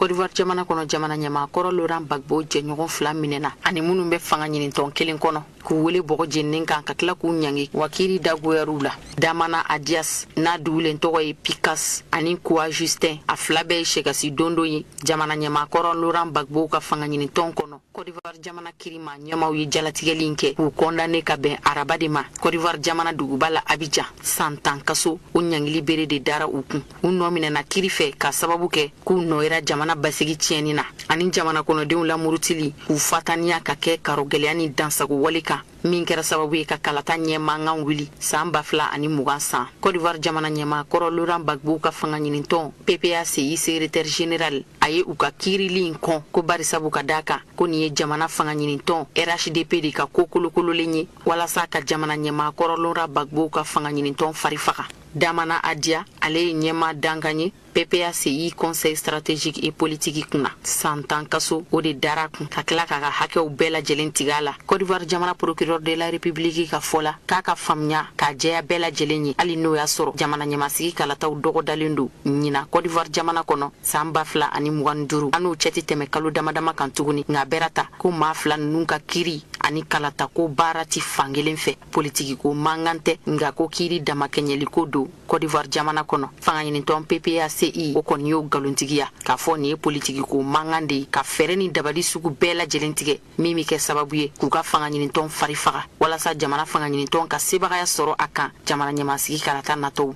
kodivuwari jamana kɔnɔ jamana ɲɛmaa kɔrɔ loran bagbo jɛɲɔgɔn fila minɛna ani minnu bɛ fanga ɲinintɔn kelen kɔnɔ k'u wele bɔgɔ jeninen kan ka tila k'u ɲangi wa kiri dagoyara u la damana adias n'a dugulen tɔgɔ ye pikas ani kuwa justin a fila bɛɛ ye sɛgasi dondon ye jamana ɲɛmaa kɔrɔ loran bagbo ka fanga ɲinintɔn kɔnɔ kɔdivuwari jamana kiri maa ɲɛmaw ye jalatigɛli in kɛ k'u kɔndannen ka bɛn araba de ma kɔdivuwari jamana duguba la abijan san tan kaso o ɲangili bere de dara u kun u nɔ minɛna kiri fɛ k'a sababu kɛ k'u nɔ yera jamana basigi tiɲɛni na ani jamana kɔnɔdenw lamurutili k'u fataniya ka kɛ karogɛlɛya ni dansago wale kan min kɛra sababu ye ka kalata ɲɛ mankan wuli saan ba fila ani mugan san kɔdiwari jamana ɲɛma kɔrɔ loran bagbo ka fanga ɲinintɔn ppaci secrétaire général a ye u ka kiirili in kɔn ko bari sabu k'a da a kan ko nin ye jamana fanga ɲinintɔn rhdp de ka ko kolokololen ye walasa ka jamana ɲɛma kɔrɔ loran bagbo ka fanga ɲinintɔn fari faga Damana Adia, ale ye ɲɛma dankan ye PPACI Conseil stratégique et politique kunna san tan kaso o de dara a kun ka tila k'a ka hakɛw bɛɛ lajɛlen tigɛ a la Côte d'Ivoire jamana procureur de la République ka fɔ la k'a ka faamuya k'a jɛya bɛɛ lajɛlen ye hali n'o y'a sɔrɔ jamana ɲɛmasigi kalataw dɔgɔdalen don ɲina Côte d'Ivoire jamana kɔnɔ san ba fila ani mugan ni duuru an n'o cɛ tɛ tɛmɛ kalo damadama kan tuguni nka bɛrata ko maa fila ninnu ka kiri ani kalatako baara tɛ fan kelen fɛ politiki ko mankan tɛ nka ko kiiri damakɛɲɛliko don kɔdiwari jamana kɔnɔ fangaɲinitɔn ppaci o kɔni y'o nkalontigiya k'a fɔ nin ye politiki ko mankan de ye ka fɛɛrɛ ni dabali sugu bɛɛ lajɛlen tigɛ min bɛ kɛ sababu ye k'u ka fangaɲinitɔn fari faga walasa jamana fangaɲinitɔn ka sebagaya sɔrɔ a kan jamana ɲɛmasigi kalata natɔw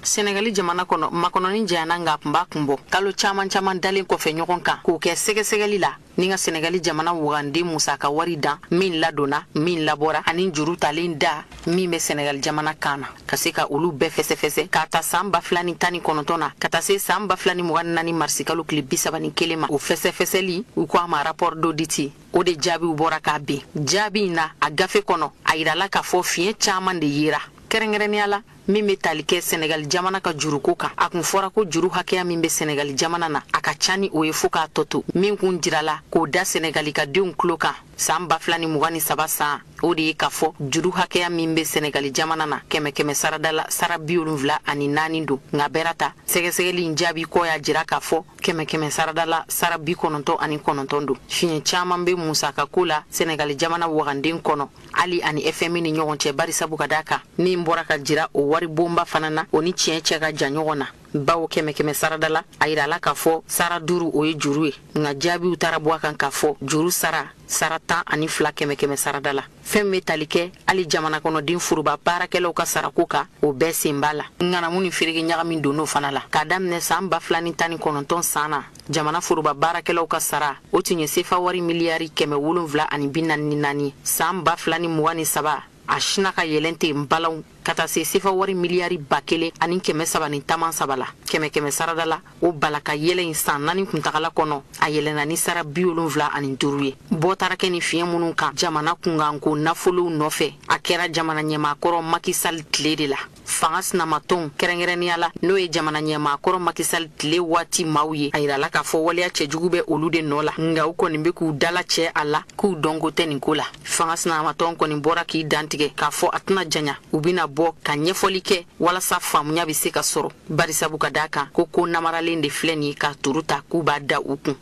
Sɛnɛgali jamana kɔnɔ makɔnɔnin janyana nka kun b'a kun bɔ kalo caman caman dalen kɔfɛ ɲɔgɔn kan k'o kɛ sɛgɛsɛgɛli la ni ka sɛnɛgali jamana waganden musaka wari dan min ladonna min labɔra ani juru talen da min bɛ sɛnɛgali jamana kan na ka se ka olu bɛɛ fɛsɛfɛsɛ k'a ta saan ba fila ni tan ni kɔnɔntɔn na ka taa se saan ba fila ni mugan naani marisikalo tile bisaba ni kelen ma o fɛsɛfɛsɛli u ko a ma rapport d'audit o de jaabiw bɔra k'a bin jaabi in na a gafe kɔnɔ a yirala k'a fɔ fiɲɛ caman de yera kɛrɛnkɛrɛnnenya la min bɛ tali kɛ sɛnɛgali jamana ka juruko kan a kun fɔra ko juru hakɛya min bɛ sɛnɛgali jamana na a ka ca ni o ye fo k'a tɔ to min kun jirala k'o da sɛnɛgali ka denw tulo kan saan ba fila ni mugan ni saba san o de ye k'a fɔ juru hakɛya min bɛ sɛnɛgali jamana na kɛmɛ kɛmɛ sarada la sara bi wolonfila ani naani don nka bɛra ta sɛgɛsɛgɛli in jaabi kɔ y'a jira k'a fɔ kɛmɛ kɛmɛ sarada la sara bi kɔnɔntɔn ani kɔnɔntɔn don fiɲɛ caaman bɛ musaka ko la sɛnɛgali jamana waganden kɔnɔ hali ani fmi ni ɲɔgɔn cɛ barisabu ka da kan min bɔra ka jira o wari bonba fana na o ni tiɲɛ cɛ ka jan ɲɔgɔn na bawo kɛmɛ kɛmɛ sarada la a yirala k'a fɔ sara duuru o ye juru ye nka jaabiw taara bɔ a kan k'a fɔ juru sara sara tan ani fila kɛmɛ kɛmɛ sarada la fɛn min bɛ tali kɛ hali jamana kɔnɔden foroba baarakɛlaw ka sarako kan o bɛɛ sen b'a la ŋanamu ni ferege ɲagami donn'o fana la k'a daminɛ saan ba fila ni tan ni kɔnɔntɔn san na jamana foroba baarakɛlaw ka sara o tun ye sefa wari miliyari kɛmɛ wolonwula ani bi naani ni naani saan ba fila ni mugan ni saba a sina ka yɛlɛn ten balaw ka taa se sefa wari miliyari ba kelen ani kɛmɛ saba ni taman saba la kɛmɛ kɛmɛ sarada la o bala ka yɛlɛ in san naani kuntagala kɔnɔ a yɛlɛna ni sara bi wolonwula ani duuru ye bɔ taara kɛ ni fiɲɛ minnu kan jamana kunkanko nafolow nɔfɛ a kɛra jamana ɲɛmaakɔrɔ macky sall tile de la fanga sinamatɔnw kɛrɛnkɛrɛnnenya la n'o ye jamana ɲɛmaa kɔrɔ macky sall tile waati maaw ye a yirala k'a fɔ waleya cɛjugu bɛ olu de nɔ la nka u kɔni be k'u dalacɛ a la k'u dɔnko tɛ nin ko la fanga sinamatɔn kɔni bɔra k'i dantigɛ k'a fɔ a tɛna janya u bena bɔ ka ɲɛfɔli kɛ walasa faamuya be se ka sɔrɔ barisabu ka daa kan ko ko namaralen de filɛ nin ye ka turu ta k'u b'a da u kun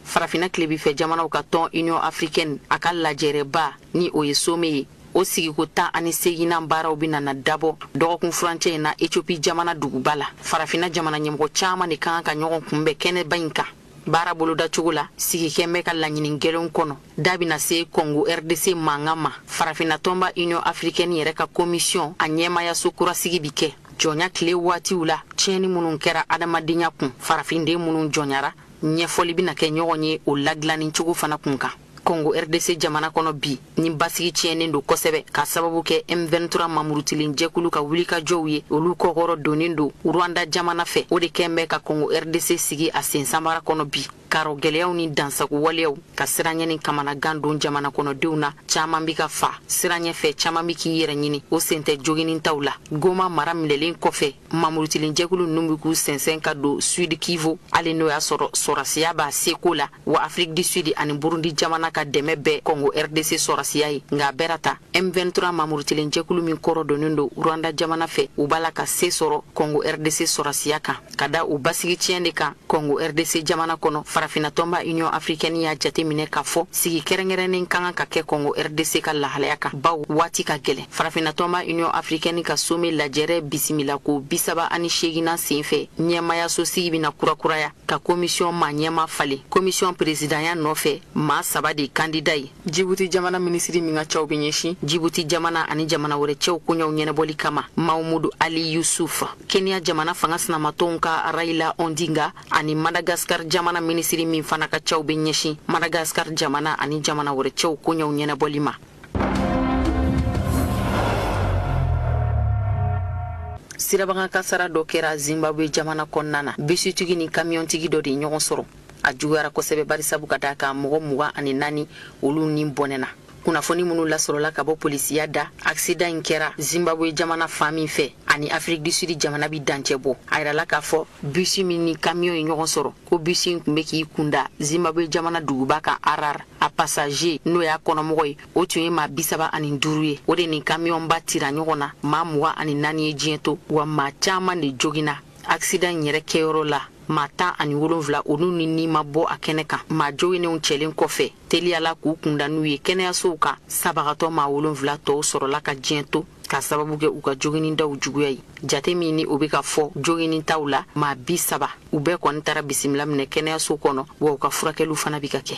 farafinna tilebifɛ jamanaw ka tɔn union africaine a ka lajɛrɛba ni o ye sommet ye o sigiko tan ani seginnan baaraw bɛna na dabɔ dɔgɔkun furancɛ in na ethiopie jamana duguba la farafinna jamana ɲɛmɔgɔ caman de ka kan ka ɲɔgɔn kunbɛn kɛnɛba in kan baara bolodacogo la sigi kɛn bɛ ka laɲini gɛlɛnw kɔnɔ da bɛna se kɔngo rdc mankan ma farafinna tɔnba union africaine yɛrɛ ka komisiyɔn a ɲɛmaayaso kura sigi bi kɛ jɔnya tile waatiw la tiɲɛni minnu kɛra adamadenya kun farafinden minnu jɔnyara ɲɛfɔli bɛna kɛ ɲɔgɔn ye o ladilanni cogo fana kun kan kongo rdc jamana kɔnɔ bi ni basigi tiɲɛnen don kosɛbɛ ka sababu kɛ m23 maa murutilen jɛkulu ka wulikajɔw ye olu kɔkɔrɔ donnen don rwanda jamana fɛ o de kɛn bɛ ka kongo rdc sigi a sen sanbara kɔnɔ bi Karogɛlɛyaw ni dansago waleyaw ka siranyɛ ni kamanagan don jamana kɔnɔdenw na caman bɛ ka fa siranyɛ fɛ caman bɛ k'i yɛrɛ ɲini o sen tɛ joginni taw la goma mara minɛlen kɔfɛ maa murutilen jɛkulu ninnu bɛ k'u sɛnsɛn ka don sud kivu hali n'o y'a sɔrɔ sɔrasiya b'a seko la wa afrique du sud ani burundi jamana ka dɛmɛ bɛ kɔngo rdc sɔrasiya ye nka a bɛɛ n'a ta m23 maa murutilen jɛkulu min kɔrɔ donnen don rwanda jamana fɛ u b'a la ka se sɔrɔ kɔngo rdc sɔrasiya kan ka da u basigi tiɲɛ de kan Congo RDC jamana kɔnɔ farafina tɔnba Union africaine y'a jateminɛ k'a fɔ sigi kɛrɛnkɛrɛnnen ka kan ka kɛ Congo RDC ka lahalaya kan baw waati ka gɛlɛn farafina tɔnba Union africaine ka sommet lajɛrɛ bisimila ko bisaba ani seeginan senfɛ ɲɛmaayaso sigi bɛna kurakuraya ka komisiyɔn maa ɲɛmaa falen komisiyɔn peresidanya nɔfɛ maa saba de kandida ye jibuti jamana minisiri min ka caw bɛ ɲɛsin jibuti jamana ani jamana wɛrɛ cɛw koɲɛw ɲɛnabɔli kama mamudu ali yusuf kenya jamana fanga sinamatɔn ka raila ondinga ani madagaskar jamana minisiri min fana ka caw bɛ ɲɛsin madagaskar jamana ani jamana wɛrɛ cɛw koɲɛw ɲɛnabɔli ma sirabakan kasara dɔ kɛra zimbabwe jamana kɔnɔna na bisitigi ni kamiyɔntigi dɔ de ɲɔgɔn sɔrɔ a juguyara kosɛbɛ barisabu ka d'a kan mɔgɔ mugan ani naani olu ni bɔnɛna kunnafoni minnu lasɔrɔla ka bɔ polisiya da akisidan in kɛra zimbabwe jamana fan min fɛ ani afiriki du sudi jamana bi dancɛ bɔ a yirala k'a fɔ bisi min ni kamiyon ye ɲɔgɔn sɔrɔ ko bisi in tun bɛ k'i kunda zimbabwe jamana duguba kan arar a pasaje n'o y'a kɔnɔmɔgɔ ye o tun ye maa bisaba ani duuru ye o de ni kamiyɔnba tira ɲɔgɔn na maa mugan ani naani ye diɲɛ to wa maa caman de jogina akisidan in yɛrɛ kɛyɔrɔ la maa tan ani wolonfila olu ni ni ma bɔ a kɛnɛ kan maa joginnenw cɛlen kɔfɛ teliya la k'u kunda n'u ye kɛnɛyasow kan sabagatɔ maa wolonfila tɔw sɔrɔla ka diɲɛ to ka sababu kɛ u ka joginnidaw juguya ye jate min ni o bɛ ka fɔ joginni taw la maa bisaba u bɛɛ kɔni taara bisimila minɛ kɛnɛyaso kɔnɔ wa u ka furakɛliw fana bɛ ka kɛ